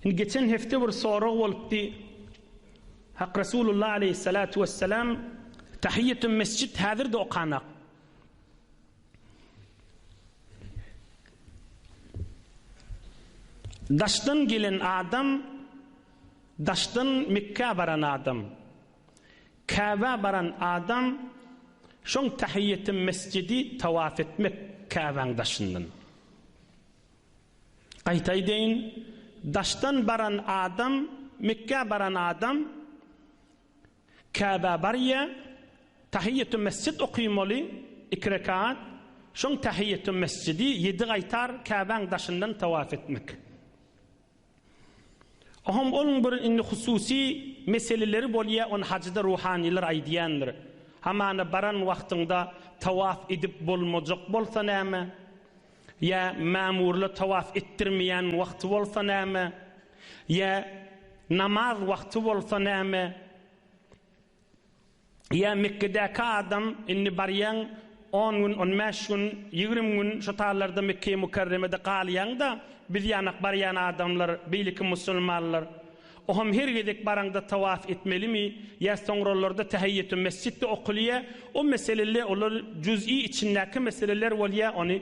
Indi geçen hepde bir sorag bolupdy. Hak Resulullah aleýhissalatu wessalam Tahiýetun mesjid häzirde okanak. Daşdan gelen adam daşdan Mekka baran adam. Kaba baran adam şoň Tahiýetun mesjidi tawaf etmek Kabaň daşyndan. Gaýta aýdaýyn, daşdan baran adam, Mekgä baran adam, Käbä barýa, Tahiýýetü mesjid okymaly, iki rekat, şoň Tahiýýetü mesjidi ýedi gaýtar Käbäň daşyndan tawaf etmek. Ohom onuň bir indi hususy meseleleri bolýa ony hajyda ruhanylar aýdýandyr. Hamana baran wagtyňda tawaf edip bolmajak bolsa näme? Ýa mamurla tawaf etdirmeýän wagty bolsa näme? Ýa namaz wagty bolsa näme? Ýa Mekgedäki adam indi barýaň, on gün, on bäş gün, ýigrimi gün şu taýlarda Mekgeýi Mükerremede galýaň-da, biz ýanak barýan adamlar, beýleki musulmanlar, oňam her gezek baraňda tawaf etmelimi, ýa soňralarda Tähiýýetümmesjitde okulýa, o meseleler, olar juz'i içindäki meseleler bolýa, ony.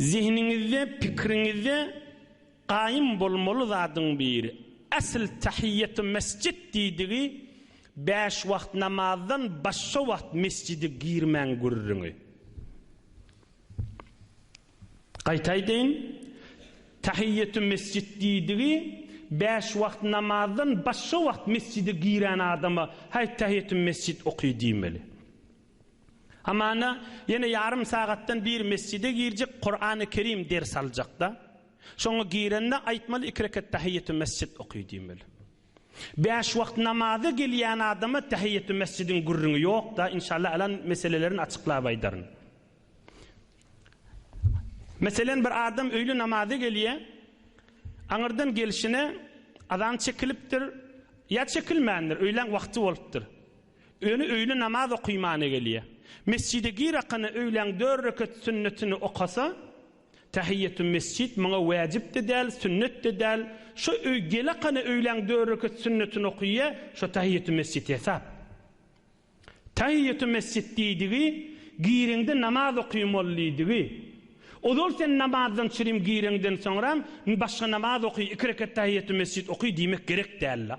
Zehniňizde, pikriňizde gaýym bolmaly zadyň biri, asl tahiýýetümesjit diýdigi bäş wagt namazdan başga wagt mesjide girmäň gürrüňi. Gaýtaýdyn, tahiýýetümesjit diýdigi bäş wagt namazdan başga wagt mesjide giren adama, Haý, tahiýýetümesjit oky diýmeli. Hamana ýene ýarym sagatdan bir mesjide girjek Kurany Kerim ders aljakda. Şoňa girende aýtmaly iki rekat Tahiýetü mesjid oky diýmeli. Bäş wagt namaza gelýän adama Tahiýetü mesjidiň gürrüňi ýokda inşallah alan meselelerini açyklap aýdaryn. Meselen bir adam öýli namaza gelýä. Aňyrdan gelşine azan çekilipdir. Ýa çekilmändir, öýlän wagty bolupdyr. Öni öýle namaz okymana gelýä. Mesjide girakana öýläň dört rekat sünnetini okasa, Tahiýýetü mesjid muňa wäjip-de däl, sünnet-de däl. Şo öý gelakana öýläň dört rekat sünnetini okýa, şo tahiýýetü mesjid hesap. Tahiýýetü mesjid diýdigi, gireňde namaz okym ol diýdigi. Ozal sen namazdan çirim gireňden soňram, başga namaz oky, iki rekat tahiýýetü mesjid oky diýmek gerek däl-la.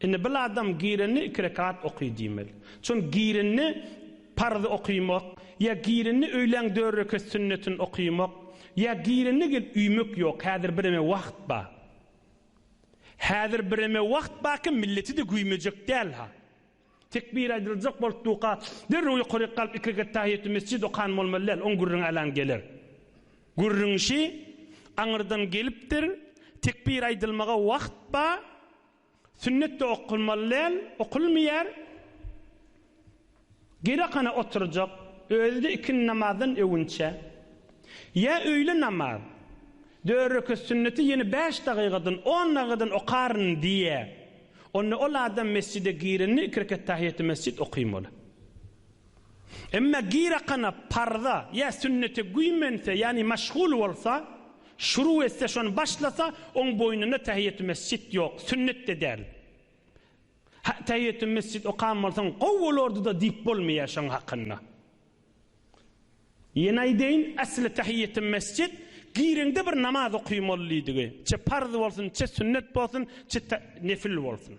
Indi bir adam girende iki rekat oky diýmeli. Çün girende parz okymok, ýa girende öýlän dört rekat sünnetini okymok, ýa girende gelip üýmek ýok, häzir bireme wagt ba. Häzir bireme wagt baki milleti de güýmejek däl ha. Tekbir aýdyljak bolup duka derrew ýokaryk galyp iki rekat tahiýetü mesjid okan bolmaly däl, oň gürrüňi alan geler. Gürrüňşi aňyrdan gelipdir, tekbir aýdylmaga wagt ba. Sünnet-de okulmaly däl, okulmaýar. Gyrakhana oturjak, özi-de ikindi namazdan öwünçä. Ýa öýle namaz, dört rekat sünneti ýene bäş dagygadan, on dagygadan okaryn diýýä. Onda ol adam mesjide girende iki rekat tahiýýaty-mesjit okamaly. Emma gyrakana, parza, ýa sünnete güýmense, ýagny maşgul bolsa, şuruw etse, şony başlasa, oň boýnunda tähiýetümesjit ýok, sünnet-de däl. Ha, tähiýetümesjit okan bolsaň, gowy bolardy-da diýip bolmaýar şoň hakynda. Ýene aýdaýyn, esli tähiýetümesjit, gireňde bir namaz oky mollydygy, çe parz bolsun, çe sünnet bolsun, çe ta, nefil bolsun.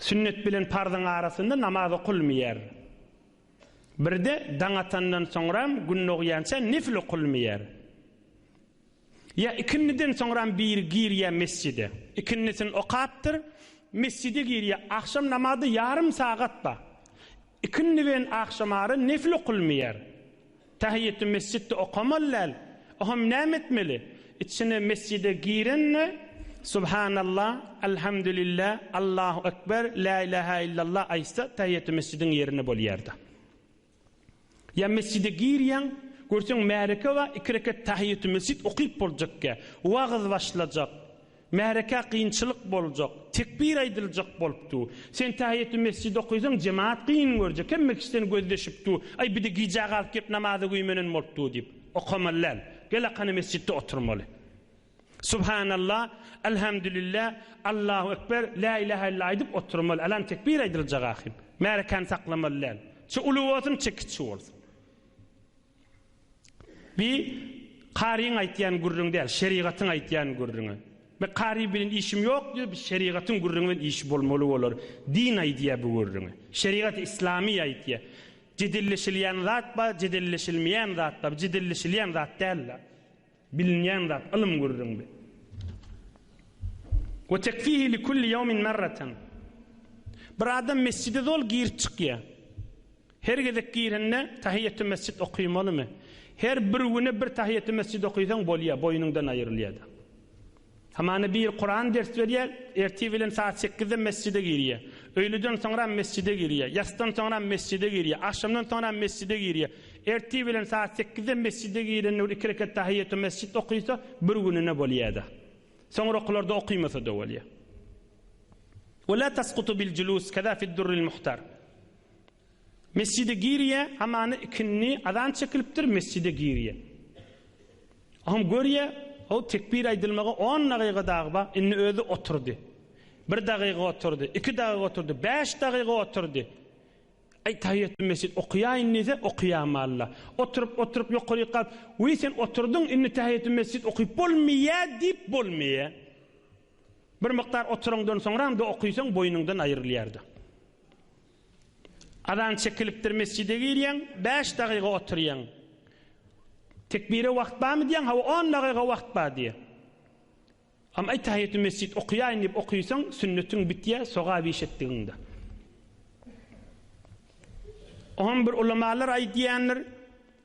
Sünnet bilen parzyň arasynda namaz okulmaýar. Birde daň atandan soňram gün dogýança nefil okulmaýar. Ýa ikindiden soňram biri girýär mesjide. Ikindisin okapdyr, mesjide girýär. Agşam namazy ýarym sagat bar. Ikindi bilen agşamara nefil okylmaýar. Tähiýeti mesjitde okamaly däl. O hem näme etmeli? Içine mesjide girende, Subhanallah, Elhamdülillah, Allahu ekber, Lä ilaha illallah aýtsa, tähiýeti mesjidiň ýerine bolýar-da. Ýa mesjide girýäň, görseň märeke bar, iki rekat tähiýeti mesjit okyp boljakkä, wagyz başlajak. Märekä kynçylyk boljak, tekbir aýdyljak bolup dur. Sen tähiýetümesjidi okaýsaň, jemagat kyn görjek, hemme kişi seni gözleşip dur. Aý, bir-de gijä galyp gelip namaza güýmenen bolup dur diýip, okamaly däl. Gelakana mesjitde oturmaly. Subhanallah, Elhamdülillah, Allahu ekber, Lä ilähä illa aýdyp oturmaly. Alan tekbir aýdyljak ahym. Märekäni saklamaly däl. Çe uly bolsun, çe kiçi bolsun. Bi karyň aýtýan gürrüňi däl, şerigatyň aýtýan gürrüňi. Bi kary bilen işim ýok diýýär, bi şerigatyň gürrüňi bilen işi bolmaly bolar. Din aýdýar bu gürrüňi. Şerigat islamy aýtýar. Jedelleşilýän zat bar, jedelleşilmeýän zat bar. Bu jedelleşilýän zat däl-la. Bilinýän zat, ylym gürrüňdi. We tekfihi li kulli ýawmin marratan. Bir adam mesjide zol girip çykýa. Her gezek girende tahiýetü mesjid okymalymy? Her bir güne bir tahiýetü mesjid okysaň bolýa, boýnuňdan aýrylýada. Hamana biri Kuran ders berýär, ertir bilen saat sekizde mesjide girýär. Öýlüden soňram mesjide girýär. Ýassdan soňram mesjide girýär. Agşamdan soňram mesjide girýär. Ertir bilen saat sekizde mesjide girende bir iki rekat tahiýýetümesjit okysa, bir gününe bolýar-da. Soňrakylarda okymasa-da bolýar. Wela taskutu bil julus kaza fid durril muhtar. Mesjide girýä, hamana ikindi azan çekilipdir, mesjide girýä. Oňam görýä, ho, tekbir aýdylmaga on dagyga dagy bar, indi özi oturdy. Bir dagyga oturdy, iki dagyga oturdy, bäş dagyga oturdy. Aý, taýýetül mesjid okaýaýyn diýse, okaýamalla. Oturyp, oturyp, ýokaryk galyp, Wiý, sen oturdyň, indi taýýetül mesjid okyp bolmaýa diýip bolmaýa. Bir mukdar oturandan soňram-da okysaň, boýnuňdan aýrylýar-da. Azan çekilipdir mesjide girýäň, bäş dagyga oturýaň. Tekbire wagt barmy diýýäň, hawa on dagyga wagt bar diýýär. Am aý tahiýetü mesjid okaýaýyn diýip okaýsaň, sünnetiň bitýär, sogap iş etdigiňde. Oňam bir ulamalar aýdýandyr.